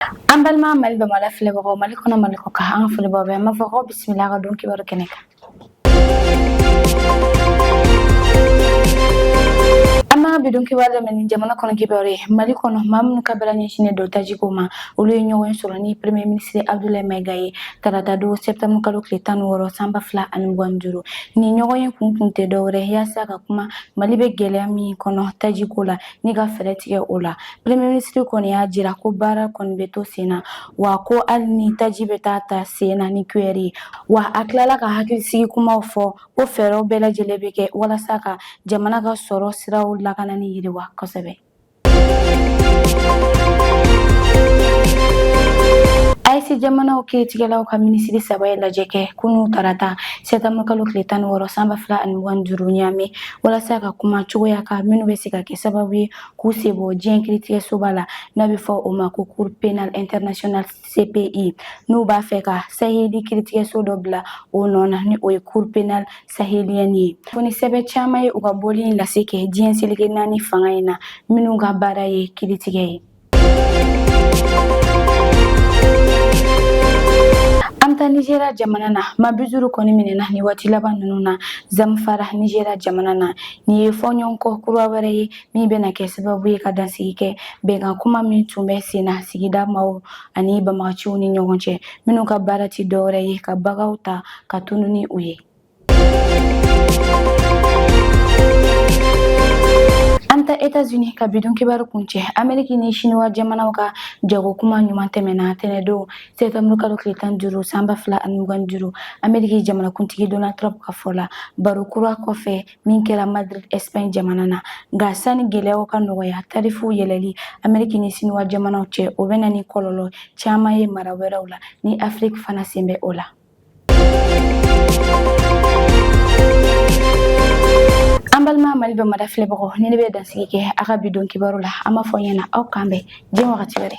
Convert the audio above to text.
an balima mali bamada filɛbagaw mali kɔnɔ mali kɔkan an ka foli b'aw bɛɛ an b'a fɔ ko bisimila ka don kibaru kɛnɛ kan an b'a bidon kibaru daminɛ ni jamana kɔnɔ kibaru ye mali kɔnɔ maa minnu ka baara ɲɛsinnen don tajiko ma olu ye ɲɔgɔnye sɔrɔ ni premier ministre abdulayi maiga ye tarata don septembre kalo tile tan ni wɔɔrɔ san ba fila ani mugan ni duuru nin ɲɔgɔnye kun kun tɛ dɔwɛrɛ yaasa ka kuma mali bɛ gɛlɛya min kɔnɔ tajiko la ni ka fɛɛrɛ tigɛ o la premier ministre kɔni y'a jira ko baara kɔni bɛ to sen na wa ko hali ni taji bɛ taa ta sen na ni cuillère ye wa a tilala ka hakilisigi kumaw fɔ ko fɛɛrɛw bɛɛ lajɛlen bɛ kɛ walasa ka jamana ka sɔrɔ siraw lakana ni yiriwa kosɛbɛ AES jamanaw kiritigɛlaw ka minisiri saba ye lajɛ kɛ kunun tarata sɛtanburukalo tile tan ni wɔɔrɔ san ba fila ani mugan duuru niamey walasa ka kuma cogoyaw kan minnu bɛ se ka kɛ sababu ye k'u sen bɔ diɲɛ kiritigɛsoba la n'a bɛ fɔ o ma ko cour pénale internationale CPI n'u b'a fɛ ka saheli kiritigɛso dɔ bila o nɔ na ni o ye cour pénale sahélienne ye kɔni sɛbɛn caman ye u ka bɔli in lase kɛ diɲɛ seleke naani fanga in na minnu ka baara ye kiritigɛ ye nizeriya jamana na maa bi duuru kɔni minɛna nin waati laban ninnu na zamfara nizeriya jamana na nin ye fɔɲɔgɔnkɔ kura wɛrɛ ye min bɛna kɛ sababu ye ka dansigi kɛ bɛnkan kuma min tun bɛ sen na sigida maaw ani banbaganciw ni ɲɔgɔn cɛ minnu ka baara tɛ dɔwɛrɛ ye ka baganw ta ka tunun ni u ye An taa États-Unis ka bidon kibaru kuncɛ Ameriki ni Siniwa jamanaw ka jago kuma ɲuman tɛmɛna tɛnɛndon sɛtanburu kalo tile tan duuru san ba fila ani mugan duuru Ameriki jamanakuntigi Donald Trump ka fɔ la baro kura kɔfɛ min kɛra Madrid Espagne jamana na nka sani gɛlɛyaw ka nɔgɔya tarifuw yɛlɛli Ameriki ni Siniwa jamanaw cɛ o bɛ na ni kɔlɔlɔ caman ye mara wɛrɛw la ni Afiriki fana sen bɛ o la. mali bamada filɛbagaw nin de bɛ dansigi kɛ an ka bidon kibaru la an b'a fɔ ɲɛna aw k'an bɛn diɲɛ wagati wɛrɛ